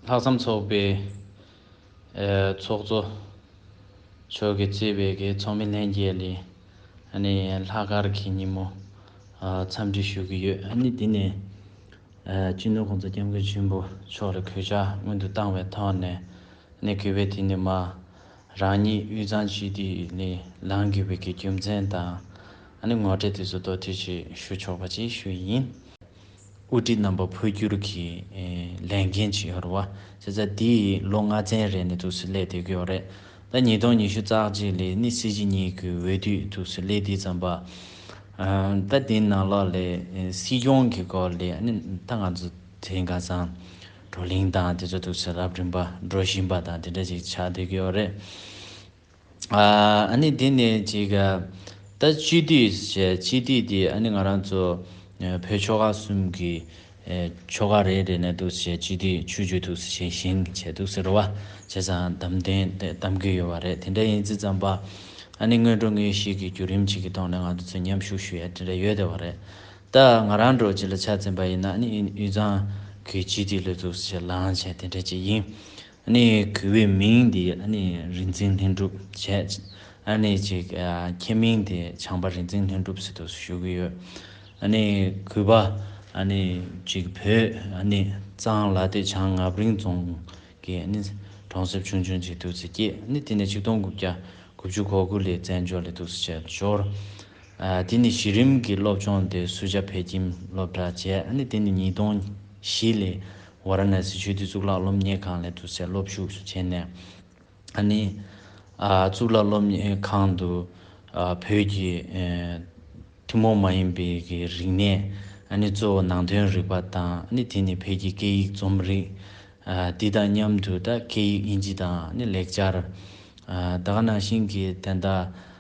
ལྷག་བསམ་ཚོགས་པའི་ཚོགས་གཙོ་མཆོག་གིས་གཙོས་པའི་ཚོགས་མི་ལྷན་རྒྱས་ལས་ལྷག་དཀར་གྱི་ཉིན་མོ་འཚམས་འདྲི་ཞུ་གི་ཡོད། དེ་ནས་སྤྱི་འཐུས་ཁོང་ཚོ་སྐྱབས་མགོན་ཆེན་པོ་མཆོག་ལ་གུས་ཕྱག་སྔོན་དུ་བཏང་བའི་ཐོག་ནས་གུས་པས་དེ་ནས་མ་རང་ཉིད་དབུས་གཙང་སྤྱི་འཐུས་ལས་ལངས་དགོས་པའི་རྒྱུ་མཚན་དང་ངོ་སྤྲད་དུས་སུ་དོགས་འདྲི་ཞིག་ཞུ་ཆོག་པ་ཅིག་ཞུ་ཡི་ཡིན། དབུ་ཁྲིད་རྣམ་པ་འཕོ་འགྱུར་གྱི་ལས་འགན་ཇི་ཡོད་རེད། བྱས་ཙང་འདི་ཡི་ལོ་ལྔ་ཚན་རེ་ནས་ཐུགས་སུ་སླེ་བསྡད་ཀྱི་ཡོད་རེད། ད་ཉིས་སྟོང་ཉི་ཤུ་རྩ་གཅིག་ལས་ནི་སྲིད་སྤྱི་གཉིས་ཀྱི་འོས་བསྡུས་ཐུགས་སུ་སླེ་དུས་ཙམ་པ། ད་དེ་ནང་ལ་ལས་སྲིད་སྐྱོང་གི་སྐོར་ལས་ནི་ད་ང་ཚོ་དེ་ག་ཙང་བགྲོ་གླིང་དང་དེ་ཚོ་ཐུགས་སུ་རབ་བསྒྲིམས་པ་བགྲོ་བཞིན་པ་དང་དེ་འདྲ་ཞིག་ཆགས་བསྡད་ཀྱི་ཡོད་རེད། ཨཱ་ནི་དེ་ནི་ཅིག། ད་སྤྱི་འཐུས་བྱས། སྤྱི་འཐུས་དེ་ཨཱ་ནི་ང་རང་ཚོ་བོད་ཆོལ་ཁ་གསུམ་གྱི་ཆོལ་ཁ་རེད་རེད་ནས་འདུག་ཟེར་སྤྱི་འཐུས་ཆོས་བརྒྱུད་འདུག་ཟེར་ཞེས་ཞེན་བྱས་འདུག་ཟེར་རོ་བ་བྱས་ཙང་གདམ་བདེན་གདམ་གི་ཡོད་བ་རེད་དེ་འདྲ་ཡིན་ཙི་ཙམ་པ། ཨཱ་ནི་སྔོན་འགྲོ་ངེས་ཤེས་ཀྱི་བརྒྱུད་རིམ་ཅིག་གི་ཐོག་ནས་ང་ཚོ་མཉམ་ཞུགས་ཞུ་ཡ་དེ་འདྲ་ཡོད་བསྡད་བ་རེད། ད་ང་རང་འགྲོ་ཅི་ལ་ཆ་འཛིན་པ་ཡིན་ན་ཨཱ་ནི་དབུས་གཙང་གི་སྤྱི་འཐུས་ལོས་འདུག་ཟེར་ལངས་བྱས་དེ་འདྲ་ཅིག་ཡིན། ནས་གུས་པའི་མིང་འདི་རིག་འཛིན་ལྷུན་གྲུབ་བྱས། ནས་ཅིག་ཁྱེད་མིང་དེ་བྱང་པ་རིག་འཛིན་ལྷུན་གྲུབ་སི་ཏུ་ཞུ་གི་ཡོད། ནས་གུས་པ། ནས་ཅིག་བོད་གཙང་ལ་སྟེ་བྱང་ངབ་རིང་རྫོང་གི་གྲོང་གསེབ་ཆུང་ཆུང་ཅིག་ཏུ་སི་སྐྱེས། དེ་ནས་ཆིག་སྟོང་དགུ་བརྒྱ་དགུ་བཅུ་གོ་དགུ་ལས་བཙན་བྱོལ་ལ་ཏུ་སི་བྱས་འབྱོར། དེ་ནས་གཞི་རིམ་གྱི་སློབ་སྦྱོང་དེ་སུ་ཇཱ་བྷེ་ཀྱིམ་སློབ་གྲྭ་བྱས། དེ་ནས་ཉིས་སྟོང་བཞི་ལས། ཝཱ་ར་ཎཱ་སི་ཆོས་སྡེའི་གཙུག་ལག་སློབ་གཉེར་ཁང་ལས་དུ་སེར་སློབ་ཞུགས་སུ་བྱས་ནས། གཙུག་ལག་སློབ་གཉེར་ཁང་དུ་བོད་ཀྱི་ཐུན་མོང་མ་ཡིན་པའི་རིག་གནས། གཙོ་བོ་ནང་དོན་རིག་པ་དང་དེ་ནི་བོད་ཀྱི་སྐད་ཡིག་རྩོམ་རིག། དེ་དང་མཉམ་དུ་སྐད་ཡིག་དབྱིན་ཇི་དང་ལེགས་སྦྱར། ད་ག་ནང་བཞིན་གྱི་དན་རྟགས།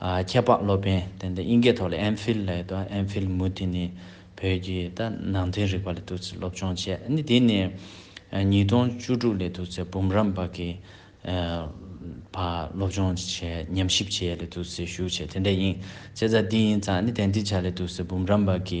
ཁྱད་འཕགས་སློབ་དཔོན་དེ་འདི་དབྱིན་སྐད་ཐོག་ལ་ཨེམ་ཕིལ་ལ་ཡོད་དོ་ཨེམ་ཕིལ་མུ་དེ་ནི་བོད་ཀྱི་ད་ནང་དོན་རིག་པ་ལ་དུས་ཚོད་སློབ་སྦྱོང་བྱས་ནི་དེ་ནི་ཉིས་སྟོང་བཅུ་དྲུག་ལས་དུས་ཚོད་འབུམ་རམས་པ་གི་བར་སློབ་སྦྱོང་བྱས་ཉམས་ཞིབ་བྱས་ལས་དུས་ཚོད་ཞུགས་བྱས་དེ་འདྲ་ཡིན་བྱས་ཙང་དེ་ཡིན་ཙང་ནི་དེ་འདི་བྱ་ལས་དུས་ཚོད་འབུམ་རམས་པ་གི་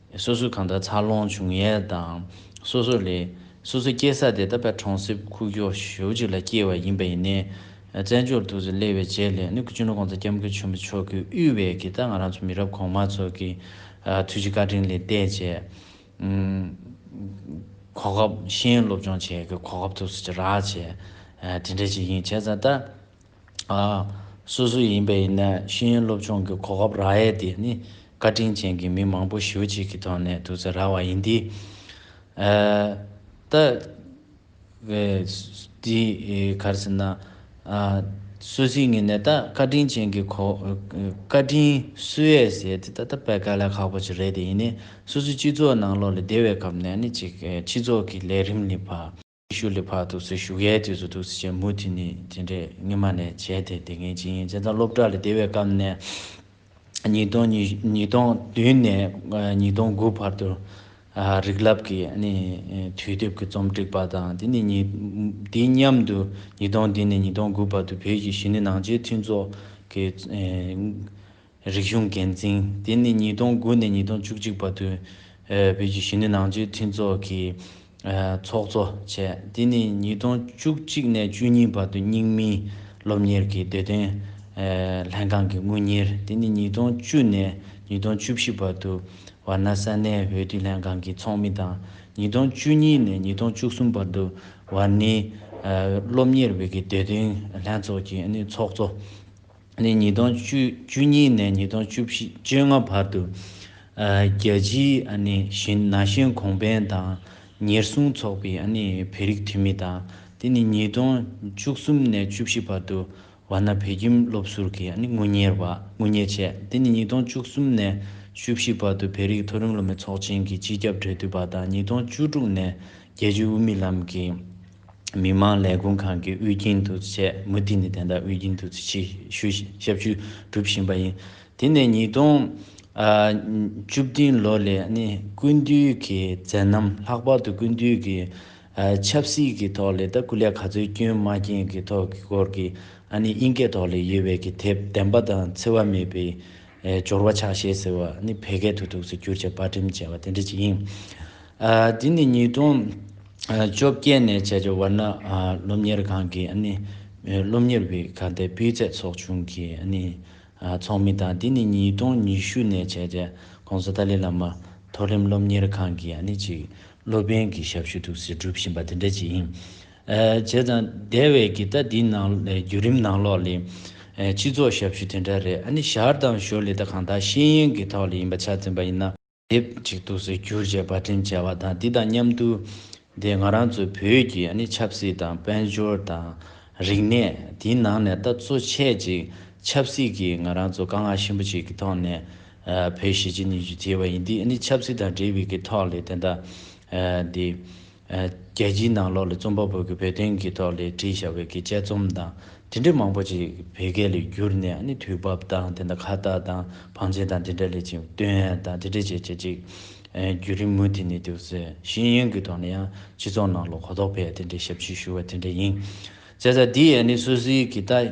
སོ་སོས་གང་ལྟར་འཚར་ལོངས་བྱུང་ཡས་དང་སོ་སོ་ལས། སོ་སོའི་སྐྱེས་ས་དེ་ད་ཕན་གྲོང་གསེབ་ཁུག་ཀྱོག་ཞོལ་ཅིག་ལ་སྐྱེས་བ་ཡིན་པ་ཡིན་ནའི། བཙན་བྱོལ་དུ་ཟི་ལི་བའི་རྗེས་ལས་ནུབ་ཀྱི་གཅུང་ནོར་ཀོང་ཚ་སྐྱབས་མགོན་ཆེན་པོ་མཆོག་གིས་དབུས་བས་ཀྱི་ད་ང་རང་ཚོ་མི་རབས་གོང་མ་ཚོ་གི་ཐུགས་རྗེ་བཀའ་དྲིན་ལས་བལྟས་རྗེས། གོ་སྐབས་གཞན་སློབ་སྦྱོང་བྱས་ཀྱི་གོ་སྐབས་ཐུགས་སུ་ཅི་རག་བྱས། དེ་འདྲ་ཅིག་ཡིན་བྱས་ཙང་ད། སོ་སོ་ཡིན་པའི་ཡིན་ནའི་ཤེས་ཡོན་སློབ་སྦྱོང་གི་གོ་སྐབས་རག་ཡས་དེ་ནི་བཀའ་དྲིན་ཅན་གྱི་མི་མང་པོ་ཞེ་བོ་གཅིག་གི་ཐོག་ནས་དུ་ཚེ་རག་བ་ཡིན་དེ། ད་དེ་གར་ཟེར་ན། སོ་སིའི་ངེས་ནས་ད་བཀའ་དྲིན་ཅན་གྱི་གོ། བཀའ་དྲིན་སུ་ཡས་ཟེར་དེ་ད་ད་དཔལ་དཀའ་ལས་ཁག་པོ་ཅིག་རེད་དེ་ཡིན་ནའི་སོ་སོའི་སྤྱི་ཚོགས་ནང་ལོགས་ལས་སྡེ་བའི་ཁབ་ནས་ནི་ཅིག་སྤྱི་ཚོགས་ཀྱི་ལས་རིམ་ནི་བ། ཤུ་ལི་ཕག་ཐུགས་སྲས་བཞུགས་ཡས་དུས་སུ་ཐུགས་སྲས་ཆེན་མོ་དེ་ནི་དེ་འདྲའི་སྔེ་མ་ནས་བྱས་ཏེ་དེ་སྔའི་ཇི་ཡིན་ཅེས་དང་སློབ་གྲྭ་ལ་སྡེ་བའི་སྐབས་ནས་ཉིས་སྟོང་ཉིས་སྟོང་བདུན་ནས་ཉིས་སྟོང་དགུ་བར་དུ་རིག་རླབས་ཀྱི་དུས་དེབ་ཀྱི་རྩོམ་སྒྲིག་པ་དང་དེ་ནི་དེ་མཉམ་དུ་ཉིས་སྟོང་བདུན་ནས་ཉིས་སྟོང་དགུ་བར་དུ་བོད་ཀྱི་གཞི་ནི་ནང་ཆེན་མཐུན་ཚོགས་ཀྱི། རིག་གཞུང་འགན་འཛིན་དེ་ནི་ཉིས་སྟོང་དགུ་ནས་ཉིས་སྟོང་བཅུ་གཅིག་བར་དུ་བོད་ཀྱི་གཞོན་ནུ་ནང་ཆོས་མཐུན་ཚོགས་ཀྱི་ཚོགས་གཙོ་བྱས། དེ་ནི་ཉིས་སྟོང་བཅུ་གཅིག་ནས་བཅུ་གཉིས་བར་དུ་རྙིང་མིའི་སློབ་གཉེར་གྱི་བདེ་དོན་ལྷན་ཁང་གི་དངུལ་གཉེར། དེ་ནི་ཉིས་སྟོང་བཅུ་ནས་ཉིས་སྟོང་བཅུ་བཞི་བར་དུ་ཝར་ན་ས་གནས་བོད་དུས་ལྷན་ཁང་གི་ཚོགས་མི་དང་ཉིས་སྟོང་བཅུ་གཉིས་ནས་ཉིས་སྟོང་བཅུ་གསུམ་བར་དུ་ཝར་ནིའི་སློབ་གཉེར་བོད་ཀྱི་བདེ་དོན་ལྷན་ཚོགས་ཀྱི་ཚོགས་གཙོ། ནས་ཉིས་སྟོང་བཅུ་གཉིས་ནས་ཉིས་སྟོང་བཅུ་ལྔ་བར་དུ་རྒྱལ་སྤྱིའི་ན་གཞོན་གོང་འཕེལ་དང་ཉེར་སྲུང་ཚོགས་པའི་བོད་རིགས་འཐུས་མི་དང་དེ་ནས་ཉིས་སྟོང་བཅུ་གསུམ་ནས་བཅུ་བཞི་བར་དུ་བ་ན་བོད་ཁྱིམ་སློབ་ཟུར་གྱི་དངུལ་གཉེར་བ་དངུལ་གཉེར་བྱས་དེ་ནས་ཉིས་སྟོང་བཅུ་གསུམ་ནས་བཅུ་བཞི་བར་དུ་བོད་རིགས་མཐོ་རིམ་སློབ་མའི་ཚོགས་ཆེན་གྱི་སྤྱི་ཁྱབ་འབྲེལ་མཐུད་པ་དང་ཉིས་སྟོང་བཅུ་དྲུག་ནས་རྒྱལ་སྤྱིའི་དབུ་མའི་ལམ་གྱི་མི་དམངས་ལས་ཁུངས་ཁང་གི་དབུས་རྒྱུན་དུ་བྱས། མུ་མཐུད་ནས་དེ་དག་དབུས་རྒྱུན་དུ་ཞུ་ཞབས་ཞུ་སྒྲུབ་བཞིན་པ་ཡིན། དེ་ནས་ཉིས་སྟོང་བཅུ་བདུན་ལོ་ལས་ནི་ཀུན་བཏུས་ཀྱི་མཛད་རྣམ་ལྷག་པར་དུ་ཀུན་བཏུས་ཀྱི་ཆབ་སྲིད་ཀྱི་ཐོག་ལས་དང་སྐུ་ལས་ག་ཚོད་སྐྱོན་མ་སྐྱེན་གྱི་ཐོག་གི་སྐོར་གྱི་དབྱིན་སྐད་ཐོག་ལས་ཡོད་བས་ཀྱི་དེབ་བདེན་པ་དང་འཚེ་བ་མེད་པའི་སྦྱོར་བ་ཕྱག་བཞེས་ཟེར་བ་ནི་བལ་སྐད་དུ་དུག་སེལ་གྱུར་ཅིག་བག་གྲིམས་བྱེད་པ་དེ་འདྲ་ཅིག་ཡིན། འདི་ནི་ཉིས་སྟོང་བཅོ་བརྒྱད་ནས་བྱས་ཀྱི་ཝར་ན་སློབ་གཉེར་ཁང་གི་སློབ་གཉེར་བའི་ཁ་བརྡའི་སྤུས་ཚད་ཚོགས་ཆུང་གི་ཚོགས་མི་དང་འདི་ནི་ཉིས་སྟོང་ཉི་ཤུ་ནས་བྱས་ཀྱི ྋགོང་ས་ཏཱ་ལའི་བླ་མ་མཐོ་རིམ་སློབ་གཉེར་ཁང་གི་གཅིག་སློབ་དཔོན་གྱི་ཞབས་ཞུ་དུག་སེལ་སྒྲུབ་བཞིན་པ་དེ་འདྲ་ཅིག་ཡིན། བྱས་ཙང་དེ་བས་ཀྱི་ད་དེའི་ནང་བརྒྱུད་རིམ་ནང་ལོགས་ལས། སྤྱི་ཚོགས་ཞབས་ཞུ་དེ་འདྲ་རེད་ཨ་ནི་ཞར་དང་ཞོར་ལས་ད་གང་དག་ཤེས་ཡོན་གྱི་ཐོག་ལས་ཡིན་པ་ཆ་འཛིན་པ་ཡིན་ན། དེབ་ཅིག་ཏུ་གཟིགས་རྒྱུར་བྱས་པར་དྲིན་བྱས་བ་དང་དེ་དང་མཉམ་དུ། དེ་ང་རང་ཚོའི་བོད་ཀྱི་ཨ་ནི་ཆབ་སྲིད་དང་དཔལ་འབྱོར་དང། རིག་གནས་དེའི་ནང་ནས་ད་གཙོ་ཆས་ཅིག་ཆབ་སྲིད་ཀྱི་ང་རང་ཚོ་དཀའ་ངལ་ཆེན་པོ་ཅིག་གི་ཐོག་ནས། བོད་གཞིས་བྱེས་གཉིས་ཀྱི་དེ་བས་ཡིན་དེ་ཨ་ནི་ཆབ་སྲིད་དང་འབྲེལ་བའི་གི་ཐོག་ལས་དེ་ད། རྒྱལ་སྤྱིའི་ནང་ལོགས་ལ་རྩོམ་པ་པོ་གིས་བོད་དོན་གྱི་ཐོག་ལས་བྲིས་བྱ་བའི་དཔྱད་རྩོམ་དང་དེ་འདྲའི་མང་པོ་ཅིག་བོད་སྐད་ལ་བསྒྱུར་ནས་ནི་དུས་བབ་དང་དེ་འདྲ་ཁ་བཏགས་དང་བང་ཆེན་དང་དེ་འདྲ་ལས་ཅིག་སྟོན་ཡན་དང་དེ་འདྲའི་བྱེད་བྱེད་ཅིག་བརྒྱུད་རིམ་མུ་མཐུད་ནས་འདུག་ཟེར་ཤེས་ཡོན་གྱི་ཐོག་ནས་ཡང་སྤྱི་ཚོགས་ནང་ལོགས་གོ་རྟོགས་འཕེལ་ཡ་དེ་འདྲའི་ཞབས་ཕྱི་ཞུ་བ་དེ་འདྲ་ཡིན། ཟེར་ས་འདི་ཡས་ནི་སུད་སི་གི་ཏཱ།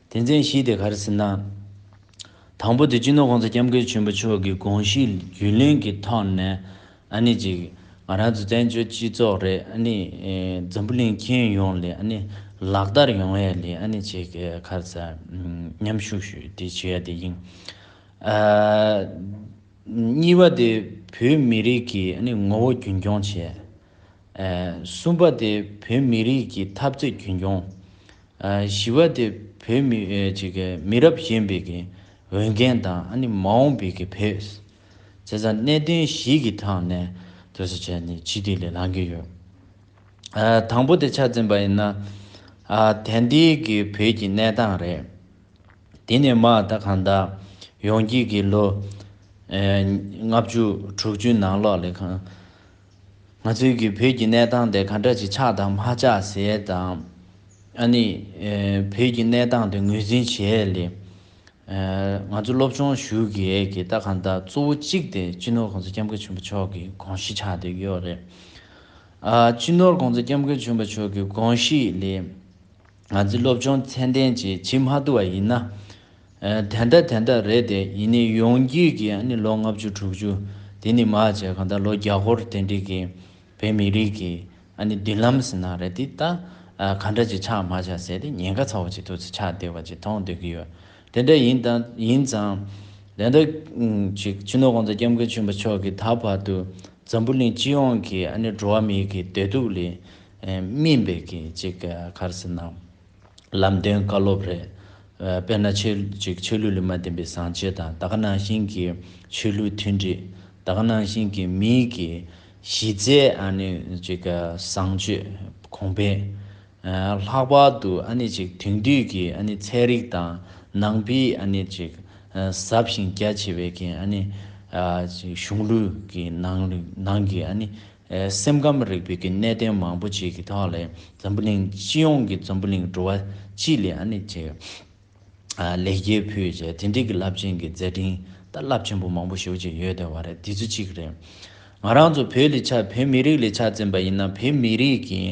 དེ་མཚན་གཞི་དེ་གར་ཟིན་ན། དང་པོ་དེ་སྤྱི་ནོར་ཁོང་ཚོ་སྐྱབས་མགོན་ཆེན་པོ་མཆོག་གི་དགོངས་གཞི་རྒྱུན་ལེན་གྱི་ཐོག་ནས་ཨ་ནི་ཅིག་ང་རང་ཚོ་བཙན་བྱོལ་སྤྱི་ཚོགས་རེད་ཨ་ནི་འཛམ་བུ་གླིང་མཁྱེན་ཡོང་ལེ་ཨ་ནི་ལག་བསྟར་ཡོང་ཡ་ལེ་ཨ་ནི་ཅིག་གར་ས་མཉམ་ཞུགས་ཞུ་དེ་བྱེད་ཡ་དེ་ཡིན། གཉིས་པ་དེ་བོད་མི་རིགས་ཀྱི་ཨ་ནི་ངོ་བོ་རྒྱུན་འཁྱོངས་བྱེད། གསུམ་པ་དེ་བོད་མི་རིགས་ཀྱི་འཐབ་རྩོད་རྒྱུན་འཁྱོངས། བཞི་བ་དེ་བོད་མི་མི་རབས་གཞན་པའི་གི་འོས་འགན་དང་ཨ་ནི་མ་འོངས་པའི་གི་བེ་ཟེ་ཚ་གནད་དོན་བཞི་གི་ཐང་ནས་དོད་སོ་བྱས་ནི་ཕྱི་དེ་ལས་ལང་གི་ཡོད། དང་པོ་དེ་ཆ་འཛིན་པ་ཡིན་ན་དན་དེ་གི་བོད་ཀྱི་གནས་སྟངས་རེད། དེ་ནས་མ་ད་གང་ད་ཡོང་གི་གི་ལོ་ལྔ་བཅུ་དྲུག་ཅུ་ནང་ལོག་ལས་ཁང། ང་ཚོའི་གིས་བོད་ཀྱི་གནས་སྟངས་དེ་ག་འདྲ་ཅིག་ཆགས་དང་མ་ཆགས་ཟེར་དང། ཨ་ནི། བོད་ཀྱི་གནས་སྟངས་དེ་ངོས་འཛིན་བྱས་ལེ། ང་ཚོ་སློབ་སྦྱོང་ཞུ་གི་ཡས་གི་ད་གང་ལྟར་གཙོ་བོ་གཅིག་དེ་སྤྱི་ནོར་གོང་ས་སྐྱབས་མགོན་ཆེན་པོ་མཆོག་གི་དགོངས་གཞི་ཆགས་འདོད་ཀྱི་ཡོད་རེད། ཨ་སྤྱི་ནོར་གོང་ས་སྐྱབས་མགོན་ཆེན་པོ་མཆོག་གི་དགོངས་གཞི་ལེ། ང་ཚོའི་སློབ་སྦྱོང་ཚན་ལྡན་ཅིག་བྱེད་མ་ཐུབ་པ་ཡིན་ན། དེ་འདྲ་དེ་འདྲ་རེད་དེ་ཡིན་ནི་ཡོང་རྒྱུས་ཀྱི་ནི་ལོ་ལྔ་བཅུ་དྲུག་ཅུ་དེ་ནི་མ་བྱས་གང་ལྟར་ལོ་བརྒྱ་སྐོར་དེ་འདྲིས་ཀྱི་བོད་མི་རིགས་ཀྱི་ཨ་ནི་མདུན་ལམ་ཟེར་ན་རེད་དེ་ད་གང་འདྲ་ཅིག་ཆགས་མ་ཆགས་ཟེར་དེ་ཉེན་ཁ་ཚ་བོ་ཅིག་ཐུག་ཚེ་ཆགས་བདེ་བ་ཅིག་མཐོང་སྡོད་ཀྱི་ཡོད་དེ་འདྲ་ཡིན་དང་ཡིན་ཙང། དེ་འདྲ་ཅིག་ཕྱི་ནོར་གོང་ས་སྐྱབས་མགོན་ཆེན་པོ་མཆོག་གིས་ད་བར་དུ་འཛམ་བུ་གླིང་སྤྱི་ཡོངས་ཀྱི་ཨ་ནི་འགྲོ་བ་མིའི་གི་བདེ་སྡུག་ལས་སྨིན་པའི་གི་ཅིག་ག་རེ་ཟེར་ན། ལམ་སྟོན་བཀའ་སློབ་རེད། དཔེར་ན་ཆོས་གཅིག་ཆོས་ལུགས་ལ་མ་བརྟེན་པའི་བཟང་སྤྱོད་དང་ད་ག་ནང་བཞིན་གྱི་ཆོས་ལུགས་མཐུན་སྒྲིལ། ད་ག་ནང་བཞིན་གྱི་མིའི་གྱི་གཞི་རྩའི་ཨ་ནི་ཅིག་ག་བཟང་སྤྱོད་གོང་འཕེལ། ལྷག་པར་དུ་ཨ་ནི་ཅིག་དེང་དུས་ཀྱི་ཨ་ནི་ཚན་རིག་དང་ནང་པའི་ཨ་ནི་ཅིག་ཟབ་ཞིང་རྒྱ་ཆེ་བའི་གྱི་ཨ་ནི་ཅིག་གཞུང་ལུགས་ཀྱི་ནང་གི་ཨ་ནི་སེམས་ཁམས་རིག་པའི་གནད་དོན་མང་པོ་ཞིག་གི་ཐོག་ལས་འཛམ་བུ་གླིང་སྤྱི་ཡོངས་ཀྱི་འཛམ་བུ་གླིང་འགྲོ་བ་སྤྱི་ལས་ཨ་ནི་ཆེ། ལེགས་སྐྱེས་ཕུལ་བྱས་དེ་འབྲེལ་གྱི་རླབས་ཆེན་གྱི་མཛད་འཕྲིན་ད་རླབས་ཆེན་པོ་མང་པོ་ཞིག་ཅིག་ཡོད་དེ་བ་རེད་དེ་ཚོ་གཅིག་རེད། ང་རང་ཚོ་བོད་ལས་ཆ་བོད་མི་རིགས་ལས་ཆ་བཙན་པ་ཡིན་ན་བོད་མི་རིགས་ཀྱི།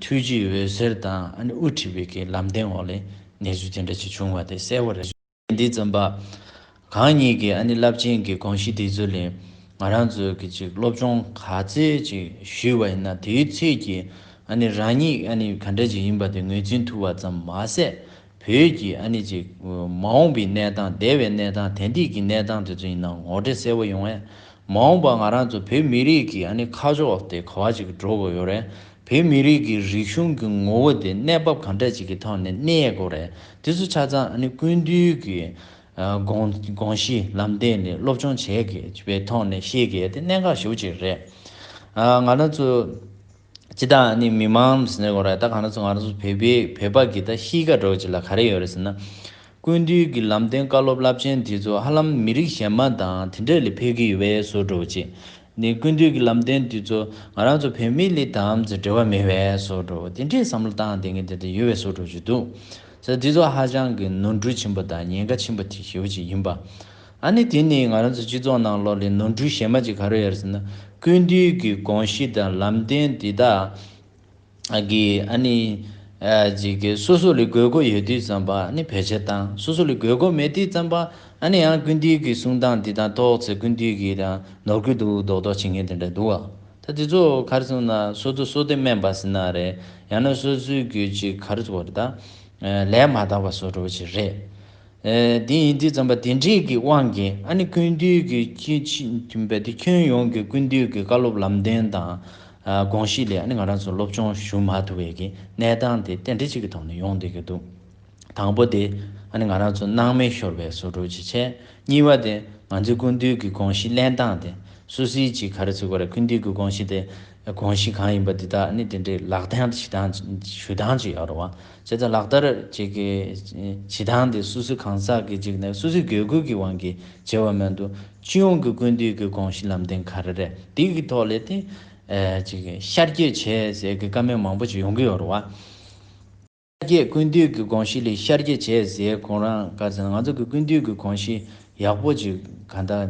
ཐུའུ་ཇི་འོད་ཟེར་དང་དབུ་ཁྲིད་བེད་ཀའི་ལམ་སྟོན་འོག་ལས་གནས་ཚུལ་དེ་འདྲ་ཞིག་བྱུང་བ་དེ་གསལ་བོ་རེད། འདི་རྩོམ་པ་གང་ཉིད་ཀྱི་རླབས་ཆེན་གྱི་དགོངས་གཞི་དེ་ཚོ་ལས་ང་རང་ཚོས་ཀྱི་ཅིག་སློབ་སྦྱོང་ག་ཚད་ཅིག་ཞུས་བ་ཡིན་ན་དེའི་ཚོད་ཀྱིས་རང་ཉིད་ག་འདྲ་ཅིག་ཡིན་པ་དེ་ངོས་འཛིན་ཐུབ་བ་ཙམ་མ་ཟད། བོད་ཀྱི་ཨ་ནི་ཅིག་མ་འོངས་པའི་གནས་སྟངས་འདས་པའི་གནས་སྟངས་དེང་དུས་ཀྱི་གནས་སྟངས་དེ་ཚོ་ཡིན་ན་ངོ་སྤྲད་གསལ་བོ་ཡོང་བས། མ་འོངས་པར་ང་རང་ཚོ་བོད་མི་རིགས་ཀྱི་ཨ་ནི་ཁ་ཕྱོགས་དེ་ག་བ་ཅིག་གི་འགྲོ་དགོས་ཡོད་རེད། བོད་མི་རིགས་ཀྱི་རིག་གཞུང་གི་ངོ་བོ་དེ་གནས་བབ་གང་འདྲ་ཅིག་གི་ཐོག་ནས་གནས་ཡས་དགོས་རེད་དེ་ཚོ་ཆ་ཚང་ཨ་ནི་ཀུན་འདུས་ཀྱི་དགོངས་གཞི་ལམ་སྟེང་ནས་སློབ་སྦྱོང་བྱས་པའི་ཐོག་ནས་ཤེས་དགོས་ཡས་དེ་གནད་འགག་ཤུགས་ཅིག་རེད། ང་རང་ཚོ། སྤྱི་དང་ནི་མི་མང་ཟེར་ནས་གོ་ར་ད་གང་ར་ཚོ་ང་ར་ཚོ་བོད་པའི་བོད་པ་གི་ད་ཤིས་ཀ་འགྲོ་ཅི་ལ་ག་རེ་ཡོད་ར་ཟེར་ན། ཀུན་བཏུས་གི་ལམ་སྟོན་བཀའ་སློབ་རླབས་ཆེན་དེ་ཚོ་ཧ་ལམ་མི་རིགས་གཞན་མ་དང་དེ་འདྲ་ལས་ཕེབས་གི་ཡོད་པས་སོ་འགྲོ་ཅི། ནི་ཀུན་བཏུས་གི་ལམ་སྟོན་དེ་ཚོ་ང་རང་ཚོ་བོད་མི་ལི་དམ་ཟེར་འབྲེལ་བ་མེད་པས་སོ་འགྲོ་དེ་འདྲའི་བསམ་བློ་བཏང་དེ་གི་དེ་འདྲ་ཡོད་པས་སོ་འགྲོ་ཅི་འདུག་ཟེར་དེ་ཚོ་ཧ་ཅང་གི་ནོར་འཁྲུལ་ཆེན་པོ་དང་ཉེན་ཁ་ཆེན་པོ་དེ་ཞེ་བོ་ཅིག་ཡིན་པ། ཨ་ནི་དེ་ནི་ང་རང་ཚོའི་སྤྱི་ཚོགས་ནང་ལོགས་ལས་ནོར་འཁྲུལ་གཞན་མ་ཅིག་ག་རེ་ཡོད་ཟེར་ན་ཀུན་འདུས་ཀྱི་དགོངས་གཞི་དང་ལམ་སྟོན་འདི་དག་གིས་ཨ་ནི། ཅིག་གིས་སོ་སོ་ལས་དགོས་མཁོ་ཡོད་དུས་ཙམ་པ་ཨ་ནི་བེད་སྤྱད་དང་སོ་སོ་ལས་དགོས་མཁོ་མེད་དུས་ཙམ་པ་ཨ་ནི་ཡང་ཀུན་འདུས་ཀྱི་གསུང་སྟངས་འདི་དག་ཐོགས་ཚེ་ཀུན་འདུས་ཀྱིས་ཀྱང་ནོར་ཁུལ་དུ་རྡོག་རྡོག་བྱེད་མཁན་དེ་འདྲ་འདུག་ཨ། ད་དེ་ཚོ་གར་སོང་ན་སོ་སོ་སོ་སྟེ་སྨན་པ་ཟིན་ན་རེད་ཡང་ན་སོ་སོའི་རྒྱུད་ཅིག་གར་བོར་ད། ལས་མ་དག་པ་བཟོ་འགྲོ་བ་ཅིག་རེད། དེ་ཡིན་དུས་བརྩམས་པ་དེ་འབྲེལ་གྱི་དབང་གིས་ཨ་ནེ་ཀུན་འདུས་ཀྱི་ཁྱོན་ཡོངས་ཀྱི་ཀུན་འདུས་ཀྱི་བཀའ་སློབ་ལམ་སྟོན་དང་དགོངས་གཞི་ལས་ཨ་ནེ་ང་རང་ཚོ་སློབ་སྦྱོང་ཞུ་མ་ཐུབ་བས་ཀྱི་གནས་སྟངས་དེ་རྟེན་འབྲེལ་གཅིག་གི་ཐོག་ནས་ཡོང་སྡོད་ཀྱི་འདུག་དང་པོ་དེ་ཨ་ནེ་ང་རང་ཚོ་སྣང་མེད་ཤོར་བའི་ཟུར་གྲོགས་ཀྱི་ཆེད་གཉིས་པ་དེ་ང་ཚོའི་ཀུན་འདུས་ཀྱི་དགོངས་གཞི་གླེང་སྟངས་དེ་སུད་སི་གྱི་གྷ་ར་ཚུ་གྷ་ར་ཀུན་འདུས་ཀྱི་དགོངས་གཞི་དེ་དགོངས་གཞི་གང་ཡིན་པ་འདི་དག་ནི་དེ་འདྲའི་ལག་ལེན་ཞུ་སྟངས་ཅིག་ཡོད་རུང་བ། བྱས་ཙང་ལག་བསྟར་བྱེད་ཀྱི་བྱེད་སྟངས་དེ་སུད་སི་གང་ཟག་གིས་གཅིག་ནས་སུད་སི་གེ་ཁུལ་གྱི་དབང་གིས་བྱས་བ་མེད་འདུག་སྤྱི་ཡོངས་ཀྱི་ཀུན་བཏུས་ཀྱི་དགོངས་གཞི་ལམ་སྟོན་ག་རེ་རེད་དེ་གི་ཐོག་ལས་དེ། ཤར་སྐྱོད་བྱས་ཟེར་གི་བཀའ་མོལ་མང་པོ་ཞིག་ཡོང་གི་ཡོད་རེད་བ། ཤར་སྐྱོད་ཀུན་བཏུས་ཀྱི་དགོངས་གཞི་ལས་ཤར་སྐྱོད་བྱས་ཟེར་གོང་རང་དགར་ཟེར་ན་ང་ཚོ་གི་ཀུན་བཏུས་ཀྱི་དགོངས་གཞི་ཡག་པོ་ཅིག་ག་འདྲ།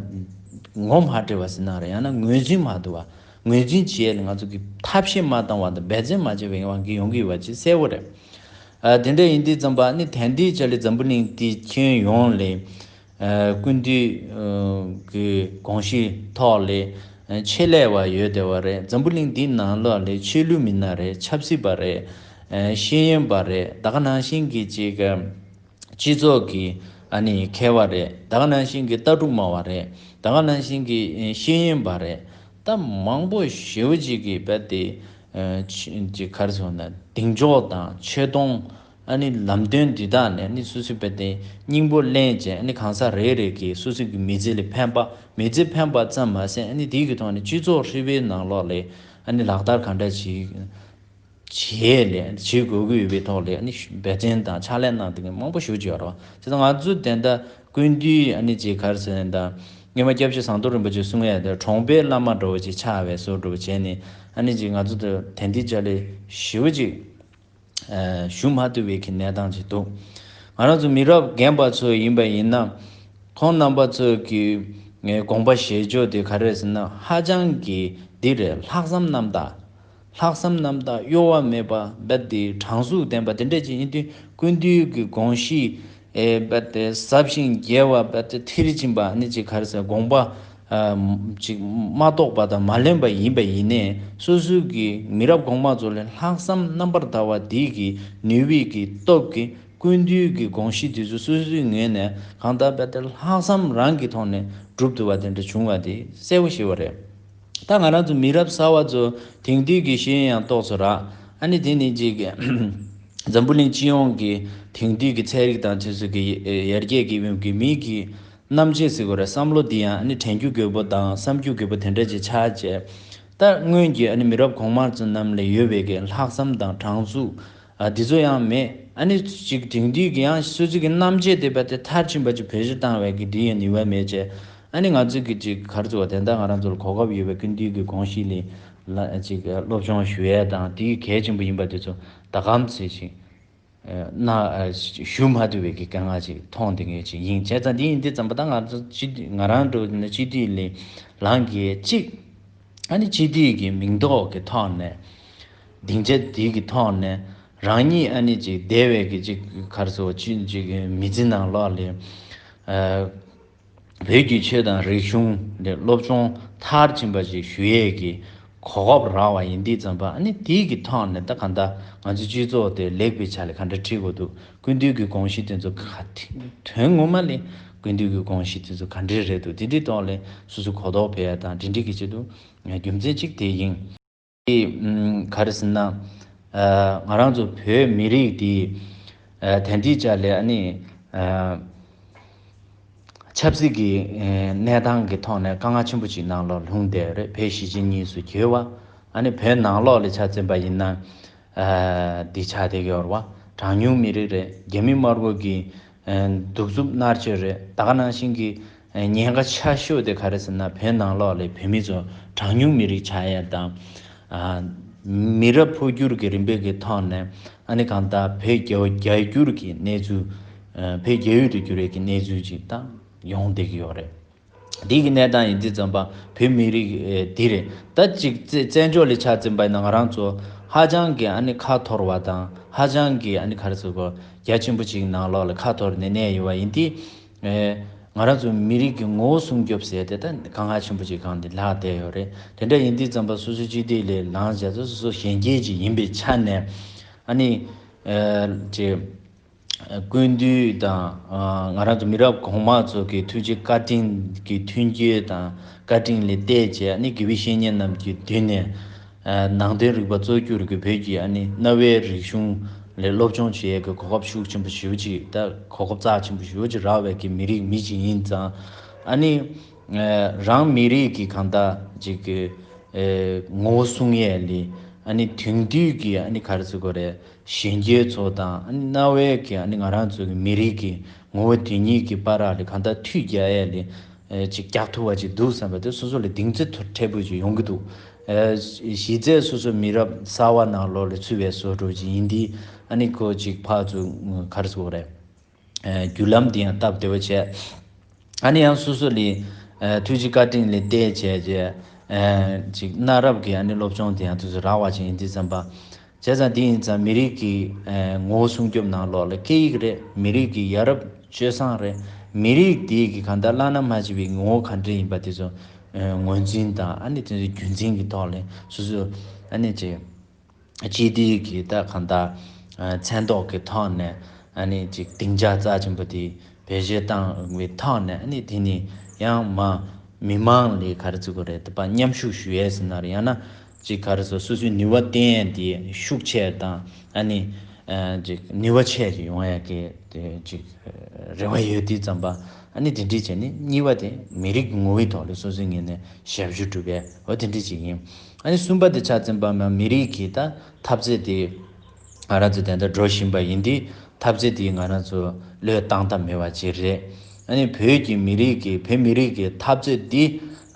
ངོ་མ་བྲིས་བ་ཟིན་ན་རེད་ཡང་ན་ངོས་འཛིན་མ་བསྡུ་བ། ངོས་འཛིན་བྱེད་ཡས་ལ་ང་ཚོ་གིས་ཐབས་ཤེས་མ་བཏང་བ་དང་འབད་བརྩོན་མ་བྱས་པའི་དབང་གིས་ཡོང་གི་ཡོད་པ་བཅས་གསལ་བོ་རེད། དེ་འདྲ་ཡིན་དུས་རྩམ་པ་ནི་དན་ཏིག་ཅལ་ལི་འཛམ་བུ་གླིང་དེའི་ཁྱོན་ཡོངས་ལས། ཀུན་འདུས་ཀྱི་གོང་གཞིའི་ཐོག་ལས། ཆེད་ལས་བ་ཡོད་དེ་བ་རེད་འཛམ་བུ་གླིང་དེའི་ནང་ལོགས་ལས་ཆོས་ལུགས་མི་སྣ་རེད་ཆབ་སྲིད་པ་རེད། ཤེས་ཡོན་པ་རེད་ད་ག་ནང་བཞིན་གྱི་ཅིག། སྤྱི་ཚོགས་ཀྱི་ཨ་ནི་མཁས་བ་རེད་ད་ག་ནང་བཞིན་གྱི་ལྟ་གྲུབ་སྨྲ་བ་རེད་ད་ག་ནང་བཞིན་གྱི་ཤེས་ཡིན་པ་རེད་ད་མང་པོ་ཞེའུ་གཅིག་གིས་བལ་ཏེ་ཅི་གར་སོང་ན་གདེང་འཇོག་དང་ཆེ་མཐོང་ཨ་ནི་ལམ་སྟོན་འདི་དག་ནི་ཨ་ནི་སུ་སུ་བལ་ཏེ་སྙིང་པོ་གླེང་བྱེད་ཨ་ནི་གང་ཟག་རེ་རེ་གིས་སུ་སུ་གི་མི་ཚེ་ལས་ཕན་པ་མི་ཚེ་ཕན་པ་ཙམ་མ་ཟད་ཨ་ནི་དེ་གི་ཐོག་ནས་སྤྱི་ཚོགས་ཧྲིལ་བོའི་ནང་ལོགས་ལས་ཨ་ནི་ལག་བསྟར་གང་འདྲ་བྱེད་བྱེད་ལས་བྱེད་དགོས་ཀྱི་ཡོད་པའི་ཐོག་ལས་ནི་འབད་བརྩོན་དང་ཕྱག་ལས་གནང་དོན་མང་པོ་ཞུ་བཅུག་ཡོད་རོགས་བྱས་ང་ཚོས་དེ་ལྟར་ཀུན་བཏུས་ནི་བྱས་ཁར་ཟེར་ནས་དང་སྔོན་མ་སྐྱབས་རྗེ་ཟངས་མདོག་རིན་པོ་ཆེ་གསུང་ཡས་དེར་གྲོང་པའི་བླ་མ་འགྲོ་བ་ཅིག་ཕྱག་བས་གསོལ་སྒྲུབ་བྱས་ནས་ནི་བྱས་ང་ཚོ་དེར་དན་ཏིག་ལྕགས་ལས་ཞི་བ་ཅིག་ཞུ་མ་ཐུབ་བས་ཁི་གནས་སྟངས་ཅིག་འདུག་ང་རང་ཚོ་མི་རབས་རྒན་པ་ཚོ་ཡིན་པ་ཡིན་ན་ཁོང་རྣམ་པ་ཚོ་གི་དགོངས་པ་བཞེས་ཕྱོགས་དེ་ག་རེ་ཟེར་ན་ཧ་ཅང་གི་འདི་རེད་ལྷག་བསམ་རྣམ་དག་ལྷག་བསམ་རྣམ་དག་གཡོ་བ་མེད་པ་རྦད་དེ་དྲང་གཟུགས་ལྡན་པ་དེ་འདྲས་ཀྱི་ཡིན་དུས་ཀུན་འདུས་ཀྱི་དགོངས་གཞི་རྦད་དེ་ཟབ་ཞིང་རྒྱས་བ་རྦད་དེ་མཐིལ་ཕྱིན་པ་ནི་ཅི་གར་སའི་དགོངས་པ་ཅིག་མ་རྟོགས་པ་དང་མ་ལེན་པ་ཡིན་པས་ཡིན་ནས་སོ་སོའི་གི་མི་རབས་གོང་མ་ཚོ་ལས་ལྷག་བསམ་རྣམ་པར་དག་བ་འདི་གི་ནུས་བིས་གི་སྟོབས་ཀྱིས་ཀུན་འདུས་ཀྱི་དགོངས་གཞི་དེ་ཚོ་སོ་སོའི་ངོས་ནས་གང་དག་རྦད་དེ་ལྷག་བསམ་རང་གི་ཐོག་ནས་གྲུབ་ཐུབ་པ་དེ་འདྲ་བྱུང་བ་དེ་གསལ་བོ་ཤེས་བ་རེད། ད་ང་རང་ཚོ་མི་རབས་གསར་བ་ཚོ་དེང་དུས་ཀྱི་ཤེས་ཡོན་ཡང་རྟོགས་ཚོད་རག་ཨ་ནི་དེ་ནི་གཅིག་འཛམ་བུ་གླིང་སྤྱི་ཡོངས་ཀྱི་དེང་དུས་ཀྱི་ཚན་རིག་དང་དུས་ཚོད་ཀྱི་ཡར་རྒྱས་ཀྱི་དབྱིབས་ཀྱི་མིག་གི་རྣམ་དཔྱད་ཟེར་དགོས་རེད་བསམ་བློ་འདི་ཡང་ཨ་ནི་དྲན་རྒྱུ་དགོས་པོ་དང་བསམ་རྒྱུ་དགོས་པོ་དེ་འདྲ་ཅིག་ཆགས་རྗེས། ད་སྔོན་གྱི་ཨ་ནི་མི་རབས་གོང་མ་ཚོ་རྣམས་ལས་ཡོལ་བའི་ལྷག་བསམ་དང་དྲང་ཚུགས། ཨ། དེ་ཚོ་ཡང་མེད་ཨ་ནི། ཅིག་དེང་དུས་ཀྱི་ཡང་སྲིད་ཀྱི་རྣམ་འབྱེད་དེ་བས་དེ་མཐར་ཕྱིན་པ་ཅིག་བོད་གཞིར་བཏང་བས་ཀྱི་དེ་ཡི་ནུས་བ་མེད་ཅེས་ཨ་ནི་ང་ཚོས་ཀྱི་ཅིག་གར་བཙུགས་བ་དེ་དག་ང་རང་ཚོ་ལ་གོ་སྐབས་ཡོད་པས་ཀུན་འདུས་ཀྱི་དགོངས་གཞི་ལས་ལ་ཅིག་སློབ་སྦྱོང་ཞུ་ཡས་དང་དེ་ཡི་གལ་ཆེན་པོ་ཡིན་པ་དེ་ཚོ་ད་གམ་ཚེ་ཅིག་ན་ཞུ་མ་ཐུབ་བས་ཀྱི་དཀལ་ངག་ཅིག་མཐོང་དེ་ངེས་ཅིག་ཡིན་བྱས་ཙང་དེ་ཡིན་དེ་ཙམ་པོ་ད་ང་ཚོ་སྤྱི་འཐུས་ང་རང་གྲོས་ནས་སྤྱི་འཐུས་ལས་ལངས་ཀྱི་ཅིག། ཨ་ནི་ཅི་དེའི་གི་མིང་འདོགས་ཀྱི་ཐོག་ནས། སྡིངས་ཆ་དེའི་གི་ཐོག་ནས། རང་ཉིད་ཨ་ནི་ཅིག་སྡེ་བའི་གི་ཅིག་གར་སོ་ཅི་ཅིག་མི་ཚེ་ནང་ལོགས་ལས། བོད་བརྒྱུད་ཆོས་དང་རིག་གཞུང་ལས་སློབ་སྦྱོང་མཐར་ཕྱིན་པ་ཞིག་ཞུ་ཡས་གི་གོ་སྐབས་རག་བ་ཡིན་འདི་ཙམ་པ་ཨ་ནི་དེའི་གི་ཐོག་ནས་ད་ག་འདའ་ང་ཚོའི་སྤྱི་ཚོགས་དེ་ལེགས་པའི་ཆ་ལས་ག་འདྲ་ཁྲིད་དགོས་འདུག་ཀུན་བཏུས་ཀྱི་དགོངས་གཞི་དེ་ཚོ་ག་དེ་དོན་ངོ་མ་ལས་ཀུན་བཏུས་ཀྱི་དགོངས་གཞི་དེ་ཚོ་ག་འདྲའི་རེད་འདུག་དེ་དེའི་ཐོག་ལས་སུ་སུ་གོ་རྟོགས་འཕེལ་དང་འབྲེལ་འདྲིས་ཀྱི་ཆེད་དུ་རྒྱུ་མཚན་གཅིག་དེ་ཡིན། དེ་ག་རེ་ཟེར་ན། ང་རང་ཚོ་བོད་མི་རིགས་འདི་དན་ཏིག་ཅག་ལས་ཨ་ནི་ཆབ་སྲིད་ཀྱི་གནས་སྟངས་ཀྱི་ཐོག་ནས་དཀའ་ངལ་ཆེན་པོ་ཅིག་ནང་ལོགས་ལྷུང་བསྡད་ཡོད་རེད་བོད་གཞིས་བྱེས་གཉིས་སུ་གྱེས་བ་ཨ་ནི་བོད་ནང་ལོགས་ལས་ཆ་བཙན་པ་ཡིན་ན། འདི་ཆགས་འདེགས་ཡོར་བ་གྲངས་ཉུང་མི་རིགས་རེད་རྒྱ་མི་དམར་པོ་གི་གདུག་རྩུབ་མནར་གཅོད་རེད་ད་ག་ནང་བཞིན་གྱི་ཉེན་ཁ་ཆ་ཤོས་དེ་ག་རེད་ཟེར་ན་བོད་ནང་ལོགས་ལས་བོད་མི་ཚོ་གྲངས་ཉུང་མི་རིགས་ཆགས་ཡས་དང། མི་རབས་འཕོ་འགྱུར་གྱི་རིམ་པས་ཀྱི་ཐོག་ནས་ཨ་ནི་གང་ལྟར་བོད་རྒྱ་བརྒྱ་འགྱུར་གྱི་གནས་ཚུལ་བོད་རྒྱ་ཡུལ་དུ་འགྱུར་ཡས་ཀྱི་གནས་ཚུལ་ཅིག་དང་ཡོང་འདེགས་ཡོར་རེད། བདུད་ཀྱི་གནས་དང་ཡིན་ཚེ་བཙན་པ་བོད་མི་རིགས་འདི་རེད་ད་ཅིག་བཙན་བྱོལ་ལས་ཆ་བཙན་པ་ཡིན་ང་རང་ཚོ་ཧ་ཅང་གི་ཨ་ནི་ཁ་འཐོར་བ་དང་ཧ་ཅང་གི་ཨ་ནི་ཁར་ཟུར་བ་རྒྱ་ཆེན་པོ་ཅིག་གི་ནང་ལོགས་ལ་ཁ་འཐོར་ནས་གནས་ཡོད་པ་ཡིན་དུས། ང་རང་ཚོ་མི་རིགས་ཀྱི་ངོ་བོ་སྲུང་སྐྱོབ་ཟེར་ཏེ་ད་གང་ཧ་ཆེན་པོ་ཅིག་གང་དེ་ལྷག་བསྡད་ཡོད་རེད་དེ་འདྲ་ཡིན་དུས་བཙན་པ་སོ་སོའི་སྤྱི་བདེ་ལས་ལངས་བྱས་ཚེ་སོ་སོ་གཞན་རྒྱལ་ཅིག་ཡིན་པའི་ཆ་ནས་ཨ་ནི། ཅེས། ཀུན་བཏུས་དང། ང་རང་ཚོ་མི་རབས་གོང་མ་ཚོ་གི་ཐུགས་རྗེ་བཀའ་དྲིན་གྱི་མཐུན་འགྱུར་དང་བཀའ་དྲིན་ལས་གཏད་བཅས་ཨ་ནི་དགེ་བའི་བཤེས་གཉེན་རྣམས་ཀྱི་མདུན་ནས། ནང་དོན་རིག་པ་གཙོ་གྱུར་གྱི་བོད་ཀྱི་ཨ་ནི་གནའ་བོའི་རིག་གཞུང་ལས་སློབ་སྦྱོང་བྱེད་ཡས་ཀྱི་གོ་སྐབས་ཤུགས་ཆེན་པོ་ཞུ་ཅིག་ད་གོ་སྐབས་རྩ་ཆེན་པོ་ཞུ་ཅིག་རག་བས་ཀྱི་མི་རིགས་མི་ཅིག་ཡིན་ཙང། ཨ་ནི། རང་མི་རིགས་ཀྱི་གང་ལྟ་ཅིག་གི། ངོ་བོ་གསུང་ཡས་ལི་ཨ་ནི་དེང་དུས་ཀྱི་ཨ་ནི་ག་རེ་ཟེར་དགོས་རེད། གཞན་རྒྱལ་ཚོགས་དང་གནའ་བོའི་གི་ང་རང་ཚོའི་གི་མི་རིགས་ཀི་ངོ་བོ་དེ་ཉིད་ཀི་པ་རག་ལི་གང་ལྟར་མཐུད་རྒྱ་ཡས་ལི་ཅིག་རྒྱག་ཐུབ་བ་ཅིག་འདུག་བསམ་པ་དེ་སོ་སོ་ལི་གདིང་ཚོད་ཐོ་ཕྲས་པོ་ཅིག་ཡོང་གི་འདུག་གཞི་རྩའི་སོ་སོ་མི་རབས་གསར་བ་ནང་ལོག་ལི་ཚུད་བའི་བཟོ་བསྒྲུབ་ཅིག་ཡིན་དི་ཨ་ནི་ཁོ་ཅིག་ཕག་ཚུགས་གར་ཚུགས་རེད། བརྒྱུད་ལམ་དེ་ཡང་སྟབས་བདེ་བོ་བྱས། ཨ་ནི་ཡང་སོ་སོ་ལས། ཐུགས་རྗེ་བཀའ་དྲིན་ལས་བལྟས་བྱས། ཅིག། གནའ་རབས་ཀྱི་ཨ་ནི་སློབ་སྦྱོང་དེ་ཡང་དུས་སུ་རག་བ་ཅིག་ཡིན་འདི་ཙམ་པ། བྱས་ཙང་འདི་ཡིན་ཙང་མི་རིགས་ཀྱི། ངོ་བོ་སྲུང་སྐྱོབ་གནང་ལོག་ལ་སྐད་ཡིག་རེད་མི་རིགས་ཀྱི་ཡ་རབས་སྤྱོད་བཟང་རེད། མི་རིགས་དེ་གི་གང་ལྟར་བླ་ན་མ་མཆིས་པའི་ངོ་བོ་གང་འདྲ་ཡིན་པ་དེ་ཚོ། ངོས་འཛིན་དང་ཨ་ནི་དེ་ཚོ་རྒྱུན་འཛིན་གྱི་ཐོག་ལས་སོ་སོ། ཨ་ནི་ཅིག། སྤྱི་བདེའི་གི་ད་གང་ལྟར་མཚན་རྟོག་གི་ཐོག་ནས་ཨཱ་ནི་ཅིག་སྡིངས་ཆ་རྩ་ཆེན་པོ་དེ་བེད་སྤྱོད་བཏང་བའི་ཐོག་ནས་ཨཱ་ནི་དེ་ནི་ཡང་མ་མི་དམངས་ལས་ག་རེ་བརྩི་དགོས་རེད་པ་མཉམ་ཞུགས་ཞུ་ཡས་ཟིན་ནར་ཡང་ན་ཅིག་ག་རེ་སོ་སོ་སོའི་ནུས་བ་བརྟེན་དེ་ཤུགས་ཆེ་དང་ཨཱ་ནི་ཅིག་ནུས་བ་ཆེ་ཞིག་ཡོང་ཡས་ཀི་དེ་ཅིག་རེ་བ་ཡོད་དུས་ཙམ་པ་ཨཱ་ནི་དེ་འདྲིས་བྱས་ནས་གཉིས་པ་དེ་མི་རིགས་ངོ་བོའི་ཐོག་ལ་སོ་སོའི་ངོས་ནས་ཞབས་ཞུ་སྒྲུབ་པའི་འོ་དེ་འདྲིས་ཅིག་ཡིན། ཨ་ནི་གསུམ་པ་དེ་ཆ་འཛིན་པ་འམ་མི་རིགས་ཀྱི་ད་འཐབ་རྩེད་དེ་ང་རང་ཚོ་དེ་འད་འགྲོ་བཞིན་པ་ཡིན་དེ་འཐབ་རྩེད་དེ་ང་རང་ཚོ་བློས་བཏང་ཐབས་མེད་པ་ཅིག་རེད། ཨ་ནི་བོད་ཀྱི་མི་རིགས་ཀྱི་བོད་མི་རིགས་ཀྱི་འཐབ་རྩེད་དེ་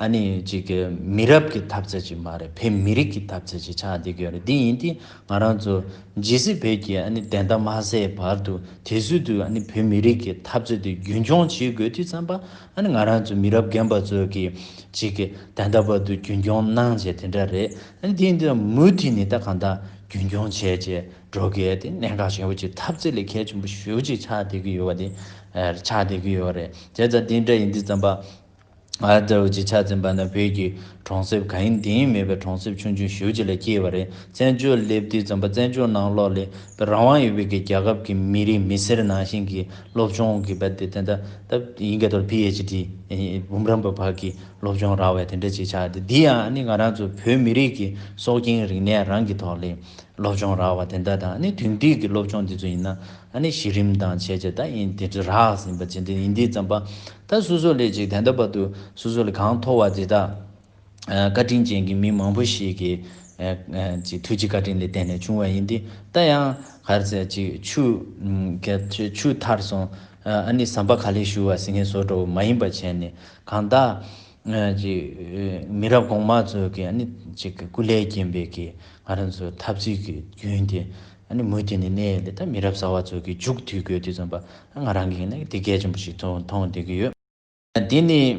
ཨ་ནི་ཅིག་གི་མི་རབས་ཀྱི་འཐབ་རྩེད་ཅིག་མ་རེད་བོད་མི་རིགས་ཀྱི་འཐབ་རྩེད་ཅིག་ཆགས་བསྡད་ཀྱི་ཡོད་རེད་དེ་ཡིན་དེ་ང་རང་ཚོ་ཇི་སྲིད་བོད་ཀྱི་ཨ་ནི་བདེན་མཐའ་མ་གསལ་བར་དུ་དེ་སྲིད་དུ་ཨ་ནི་བོད་མི་རིགས་ཀྱི་འཐབ་རྩེད་དེ་རྒྱུན་འཁྱོངས་བྱེད་དགོས་དུས་ཙམ་པ། ཨ་ནི་ང་རང་ཚོ་མི་རབས་རྒན་པ་ཚོས་ཀྱི་ཅིག་གི་ད་ལྟ་བར་དུ་རྒྱུན་སྐྱོང་གནང་བྱས་དེ་འདྲ་རེད་ཨ་ནི་དེ་ཡིན་དུས་མུ་མཐུད་ནས་ད་གང་དག་རྒྱུན་སྐྱོང་བྱས་བྱས་འགྲོ་དགོས་ཏེ་གནད་འགག་ཆེན་པོ་ཅིག་ཐབས་རྩེ་ལས་ཁད་ཆེན་པོ་ཞུ་ཅིག་ཆགས་བསྡད་ཀྱི་ཡོད་པ་དེ་ཆགས་བསྡད་ཀྱི་ཡོད་རེད་དེ་ད་དེ་འདྲ་ཡིན་དུས་རྩམ་པ་ཨ་ལྟ་བུ་ཅིག་ཆགས་ཟིན་པ་ན་བོད་ཀྱི་གྲོང་གསེབ་གང་ཡིན་དེ་ཡིན་མེད་པའི་གྲོང་གསེབ་ཆུང་ཆུང་ཞུ་ཅིག་ལ་སྐྱེས་པ་རེད་བཙན་བྱོལ་སླེབས་དུས་རྩམ་པ་བཙན་བྱོལ་ནང་ལོགས་ལས་པའི་རང་དབང་ཡོད་པའི་གི་རྒྱ་ཁབ་ཀྱི་མི་རིགས་མི་སེར་ནང་བཞིན་གྱི་སློབ་སྦྱོང་གི་བར་དེ་ད་ཡིན་ག་དོར PHD འབུམ་རམས་པ་བར་གྱི་སློབ་སྦྱོང་རག་བས་དེ་འདྲ་ཅིག་ཆགས་ཏེ་འདི་ཡང་ནི་ང་རང་ཚོ་བོད་མི་རིགས་ཀྱི་སྲོག་རྐྱེན་རིག་གནས་རང་གི་ཐོག་ལས་སློབ་སྦྱོང་རག་བ་དེ་འདྲ་དང་ནི་དུས་འདི་གི་སློབ་སྦྱོང་འདི་ཚོ་ཡིན་ན་གཞི་རིམ་དང་བྱས་རྗེས་ད་ཡིན་དེ་ཚོ་རག་ཟིན་པ་ཇི་འདྲ་ཡིན་འདི་ཙམ་པ་ད་སོ་སོ་ལས་ཅིག་དེ་འདྲ་བར་དུ་སོ་སོ་ལས་གང་མཐོ་བ་དེ་དག། བཀའ་དྲིན་ཅན་གྱི་མི་མང་པོ་ཞིག་གིས་ཐུགས་ཀྱི་བཀའ་དྲིན་ལས་བརྟེན་ནས་བྱུང་བ་ཡིན་ཏེ། ད་ཡང་གར་ཟས་ཅིག་ཆུ་ཐར་སོང་ཨ་ནི་ཟམ་པ་ག་ལེར་ཞུ་བ་ཟི་ངེ་ཟོ་དྲོ་བོ་མ་ཡིན་པ་བྱས་ནས་གང་དག་མི་རབས་གོང་མ་ཚོས་ཀྱི་ཨ་ནི་སྐུ་ལས་རྒྱན་པའི་ཀྱི་ང་རང་ཚོའི་ཐབས་རྩིས་ཀྱི་རྒྱུན་དེ་ཨ་ནི་མུ་མཐུད་ནས་གནས་ཡོད་ལ་ད་མི་རབས་གསར་བ་ཚོས་ཀྱི་མཇུག་མཐུད་དགོས་དུས་ཙམ་པ་ང་རང་གིས་ནི་དེ་གལ་ཆེན་པོ་ཞིག་མཐོང་བསྡད་ཀྱི་ཡོད། དེ་ནི་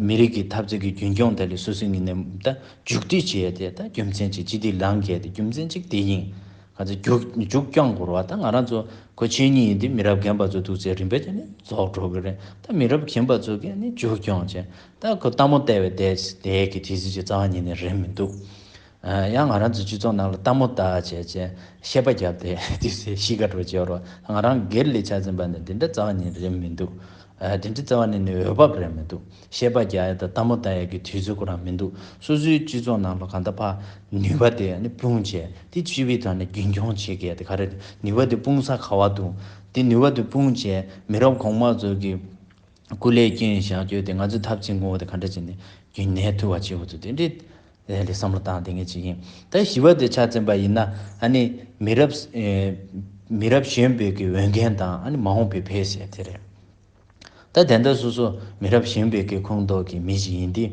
མི་རིགས་ཀྱི་འཐབ་རྩོད་ཀྱི་རྒྱུན་སྐྱོང་དེ་ལས་སོ་སོའི་ངོས་ནས་མཇུག་སྒྲིལ་བྱས་ཏེ་རྒྱུ་མཚན་གཅིག་སྤྱི་ཐིག་ལངས་གལ་ཏེ་རྒྱུ་མཚན་གཅིག་དེ་ཡིན། ག་ཚོད་མཇུག་བསྐྱང་དགོས་རོགས་ད་ང་རང་ཚོ་གོ་ཆེན་གཉིས་ཡིན་དུས་མི་རབས་རྒན་པ་ཚོ་འདུག་ཚེ་རིང་བས་ཀྱང་ནི་རྫོགས་འགྲོ་གི་རེད་ད་མི་རབས་གྱེན་པ་ཚོ་གིས་ནི་མཇུག་སྐྱོང་བྱས་ད་ཁོ་སྟག་མོ་བལྟ་བའི་དད་ཀྱི་དེ་གཟི་བརྗིད་རྩ་བ་ཉིད་ནས་རེད་མི་འདུག་ཡང་ང་རང་ཚོའི་སྤྱི་ཚོགས་ནང་ལ་སྟག་མོ་བལྟ་བྱས་བྱས་གཤེད་པ་བརྒྱབ་སྟེ་དུས་ཚོད་གཞིས་ཀ་འགྲོ་བྱེད་རོགས་ང་རང་སྒེར་ལས་ཆ་འཛིན་པ་ནི་དེ་འདྲ་རྩ་བ་ནས་རེད་མི་འདུག་དེ་འདྲའི་རྩ་བ་ནས་ནི་འོས་བབ་རེད་མི་འདུག་གཤེད་པ་རྒྱག་ཡ་དང་སྟག་མོ་བལྟ་ཡ་གི་དུས་ཚོད་ཁོ་རང་མི་འདུག་སོ་སོའི་སྤྱི་ཚོགས་ནང་ལ་གང་ལྟར་ཕ་ནུས་པ་དེ་ནི་སྤུངས་བྱས་ཏེ་སྤྱི་བའི་ཐོག་ནས་རྒྱུན་སྐྱོང་བྱེད་གལ་ཏེ་ག་རེ་ནུས་པ་དེ་སྤུངས་ས་ག་བ་འདུག་དེ་ནུས་པ་དེ་སྤུངས་བྱས་མི་རབས་གོང་མ་ཚོ་གི་སྐུ་ལས་སྐྱོན་ཞག་བསྐྱོད་དེ་ང་ཚོས་ཐབས་ཆེན་དགོངས་བ་དེ་ག་འདྲ་བྱས་ནས་རྒྱུན་གནས་ཐུབ་བ་བྱེད་དགོས་ཚུལ་དེ་འདྲའི་ཐད་ལ་བསམ་བློ་བཏང་དེ་ངས་བྱེད་ཀྱིན་ད་ཞི་བ་དེ་ཕྱག་བཙན་པ་ཡིན་ན་ཨ་ནི་མི་རབས་མི་རབས་གཞོན་པའི་གི་འོས་འགན་དང་ཨ་ནི་མ་འོངས་པའི་ཕལ་ཆེར་དེ་རེད་ད་དེ་འདྲ་སོ་སོ་མི་རབས་གཞོན་པའི་གི་ཁོངས་གཏོགས་ཀྱི་མི་ཞིག་ཡིན་དུས་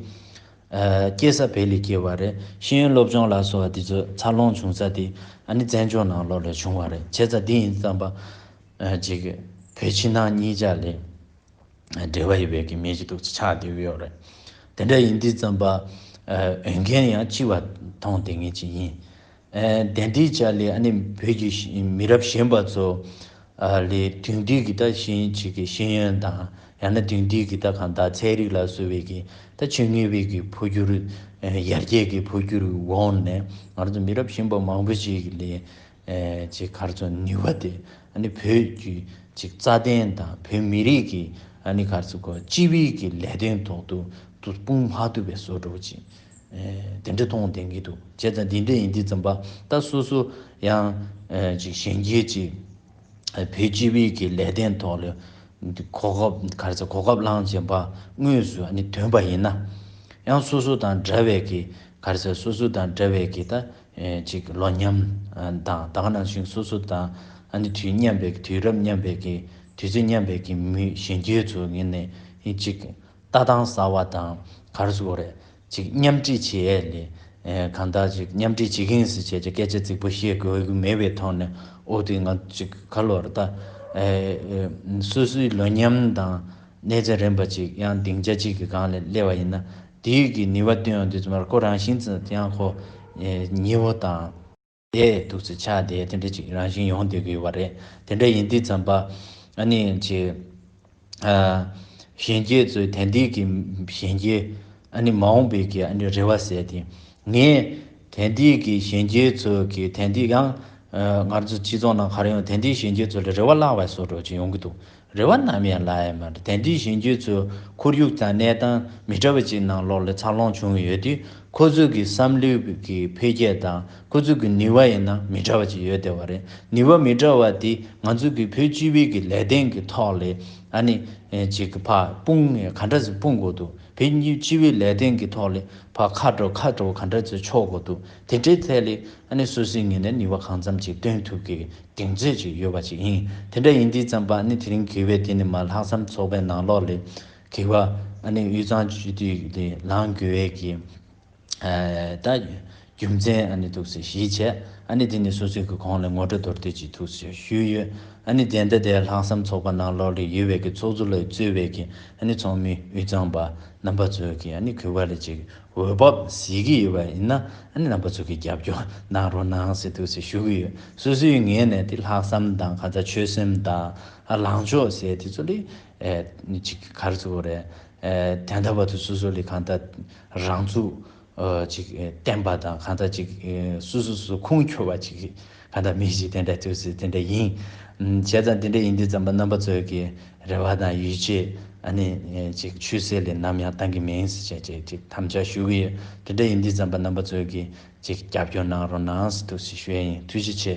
སྐྱེས་ས་བལ་ལི་སྐྱེས་བ་རེད་ཤེས་ཡོན་སློབ་སྦྱོང་ལ་སོགས་བ་འདི་ཚོ་འཚར་ལོངས་བྱུང་ས་དེ་ཨ་ནི་བཙན་བྱོལ་ནང་ལོགས་ལས་བྱུང་བ་རེད་བྱས་ཙང་འདི་ཡིན་དུས་དམ་པ། ཅིག། བོད་ཕྱི་ནང་གཉིས་ཀྱ་ལས། འབྲེལ་བ་ཡོད་པའི་གི་མེད་ཀྱི་འདུག་ཅེས་ཆགས་དེ་བེའོ་རེད། དེ་འདྲ་ཡིན་དུས་རྩམ་པ། འོས་འགན་ཡང་ལྕི་བ་ཐོངས་དེ་ངེས་ཅིག་ཡིན། དེ་འདྲའི་ཆ་ལས་ཨ་ནི་བོད་ཀྱི་མི་རབས་གཞན་པ་ཚོ། ལས་དུས་འདི་གི་ད་གཞན་ཅིག་གི་ཤེས་ཡོན་དང་ཡང་ན་དུས་འདི་གི་ད་གང་དག་ཚན་རིག་ལ་སོ་བའི་གི་ད་ཆོས་ངེས་བའི་གི་འཕོ་འགྱུར། ཡར་རྒྱས་ཀྱི་འཕོ་འགྱུར་འོག་ནས་ང་ཚོ་མི་རབས་གཞན་པ་མང་པོ་ཞིག་ལས་ཅེས་གར་སོང་ནུས་པ་དེ་ནི་བོད་བརྒྱུད་རྩ་དོན་དང་བོད་མི་རིགས་ཀྱི་གར་སོང་སྐོར་སྤྱི་དབུས་ཀྱི་ལས་དོན་ཐོག་ཏུ་དཔུང་དམག་བསྡུ་བའི་བཟོ་བསྒྲུབ་ཅིག་དེ་འདྲ་མཐོང་བདེན་གྱི་འདུག་བྱས་ཙང་འདི་འདྲ་ཡིན་འདི་ཙམ་པ་ད་སོ་སོ་ཡང་གཞན་རྒྱལ་གྱི་བོད་སྤྱི་དབུས་ཀྱི་ལས་དོན་ཐོག་ལ་གོ་སྐབས་གར་སོང་གོ་སྐབས་བླངས་བྱས་པ་དངོས་སུ་དོན་པ་ཡིན་ན་ཡང་སོ་སོ་དང་འདྲ་བའི་གི་གར་སོང་སོ་སོ་དང་འདྲ་བའི་གི་ད་ཅིག་ལོ་མཉམ་དང་ད་ག་ནང་བཞིན་སོ་སོ་དང་ཨ་ནི་དུས་མཉམ་པའི་དུས་རབས་མཉམ་པའི་གི་དུས་ཚོད་མཉམ་པའི་གི་མུས་གཞན་རྒྱུད་ཚོ་ངེས་ནས་ཧི་ཅིག་ལྟ་སྟངས་ཟ་བ་དང་གར་སོ་རེད་ཅིག་མཉམ་བསྒྲིགས་བྱེད་ཨེ་ལེ་གང་དག་ཅིག་མཉམ་བསྒྲིགས་བྱེད་གིན་སི་བྱས་ཀྱི་སྐད་ཆ་རྫིག་པོ་བཤད་དགོས་གི་མེད་པའི་ཐོག་ནས་ཨོ་དེ་ང་ཅིག་ག་ལོར་ལྟ་སོ་སོའི་ལོ་མཉམ་དང། གནས་ཚད་རན་པ་ཅིག་ཡང་སྡིངས་ཆ་གཅིག་གི་སྒང་ལས་སླེ་བ་ཡིན་ན་དེའི་ཡུལ་གྱི་ནུས་བ་བཏོན་ཡོང་དུས་ཚོད་མར་ཁོ་རང་བཞིན་ཙི་ཙི་ཡང་ཁོ་ཉི་བོ་དང། དེ་སྡུག་ཚེ་ཆ་དེ་དེ་འདྲ་ཅིག་རང་བཞིན་ཡོང་སྡོད་ཀྱི་ཡོད་པ་རེད། དེ་འདྲ་ཡིན་དུས་ཙམ་པ་ནི་ཆེ། གཞན་སྐྱེས་ཚོའི་དན་ཏིག་གི་གཞན་སྐྱེས་ཨ་ནི་མ་འོངས་པའི་གི་ཨ་ནི་རེ་བ་བསལ་ཏེ། ངས་དན་ཏིག་གི་གཞན་སྐྱེས་ཚོའི་གི་དན་ཏིག་ཡང། ངར་ཚོ་སྤྱི་ཚོགས་ནང་གར་ཡོང་དན་ཏིག་གཞན་སྐྱེས་ཚོ་ལས་རེ་བ་བརླག་བས་སོ་འགྲོ་ཅིག་ཡོང་གི་འདུག་རེ་བ་ནམ་ཡང་བརླག་ཡས་མེད། དེ་འདྲའི་གཞན་རྒྱུད་ཚོའི་ཁོར་ཡུག་དང་གནས་སྟངས་མི་འདྲ་བ་ཅིག་ནང་ལོགས་ལ་འཚར་ལོངས་བྱུང་ཡོད་དུས་ཁོ་ཚོའི་གི་བསམ་བློའི་གི་འཕེལ་རྒྱས་དང་ཁོ་ཚོའི་གི་ནུས་བ་ཡིན་ན་མི་འདྲ་བ་ཅིག་ཡོད་བསྡད་པ་རེད་ནུས་བ་མི་འདྲ་བ་དེ་ང་ཚོའི་གི་བོད་སྤྱི་བའི་གི་ལས་དོན་གི་ཐོག་ལས་ཨ་ནི་ཅིག་གི་ཕ་སྤུང་ངས་ག་འདྲ་ཚོས་སྤུང་དགོས་འདུག་བོད་སྤྱི་བའི་ལས་དོན་གི་ཐོག་ལས་ཕ་ཁ་དྲོ་ཁ་དྲོ་ག་འདྲ་ཚོས་ཆོག་དགོས་འདུག་དེ་འདྲའི་ཐད་ལས་ཨ་ནི་སུད་སིའི་ངོས་ནས་ནུས་བ་གང་ཙམ་གྱིས་བཏོན་ཐུབ་གི་གདེང་ཚོད་ཅིག་ཡོད་པ་ཞིག་ཡིན། དེ་འདྲ་ཡིན་དུས་ཙམ་པ་ཨ་ནི་དེ་རིང་གི་བའི་དེ་ནི་མ་ལྷག་བསམ་ཚོགས་པའི་ནང་ལོགས་ལས། གི་བ་ཨ་ནི་དབུས་གཙང་སྤྱི་འཐུས་ལས་ལངས་དགོས་བས་ཀྱི། ད། རྒྱུ་མཚན་ཨ་ནི་ཐུགས་སུ་གཞིས་བྱས་ཨ་ནི་དེ་ནི་སུད་སི་གི་གོང་ལས་ངོ་སྤྲོད་དོར་དུས་ཀྱི་ཐུགས་སུ་ཞུས་ཡོད། ཨ་ནི་དེ་འདྲ་དེ་ལྷག་བསམ་ཚོགས་པ་ནང་ལོགས་ལས་ཡོད་བས་ཀྱི་ཚོགས་གཙོ་ལ་གཙོས་བས་ཀྱི་ཨ་ནི་ཚོགས་མི་དབུས་གཙང་པ་རྣམ་པ་ཚོས་ཀྱི་ཨ་ནི་གུས་བ་ལས་ཅིག་འོས་བབ་བཟི་གི་ཡོད་པ་ཡིན་ན་ཨ་ནེ་རྣམ་པ་ཚོ་གིས་རྒྱབ་སྐྱོར་གནང་རོགས་གནང་ཟེར་འདུག་ཟེར་ཞུ་གི་ཡོད་སུ་སུའི་ངེས་ནས་དེ་ལྷག་བསམ་དང་ག་ཚ་ཆོད་སེམས་དང་ལངས་ཕྱོགས་ཟེར་དེ་ཚོ་ལི་ཅིག་གར་ཚུགས་པ་རེད་དེ་འདྲ་བ་དུ་སུ་སུ་ལི་གང་ལྟར་རང་ཚུགས་ཅིག་བསྟན་པ་དང་གང་ལྟར་ཅིག་སུ་སུ་སུ་ཁུངས་འཁྱོལ་བ་ཅིག་ད་ལྟ་མི་ཞིག་དེ་འདྲ་ཐོས་ཚེ་དེ་འདྲ་ཡིན། བྱས་ཙང་དེ་འདྲ་ཡིན་དུས་རྩམ་པ་རྣམ་པ་ཚོས་ཀྱི་རེ་བ་དང་ཡིད་ཆེས་ཨ་ནི་ཅིག་ཆུད་ཟོས་ལས་ནམ་ཡང་བཏང་གི་མིན་ཞེས་ཅིག་ཅིག་དམ་བཅའ་ཞུ་གི་ཡོད། དེ་འདྲ་ཡིན་དུས་རྩམ་པ་རྣམ་པ་ཚོས་ཀྱིས་ཅིག་རྒྱབ་སྐྱོར་གནང་རོགས་གནང་ཟེར་ཐུགས་ཞེ་ཞུ་ཡ་ཡིན་ཐུགས་རྗེ་ཆེ།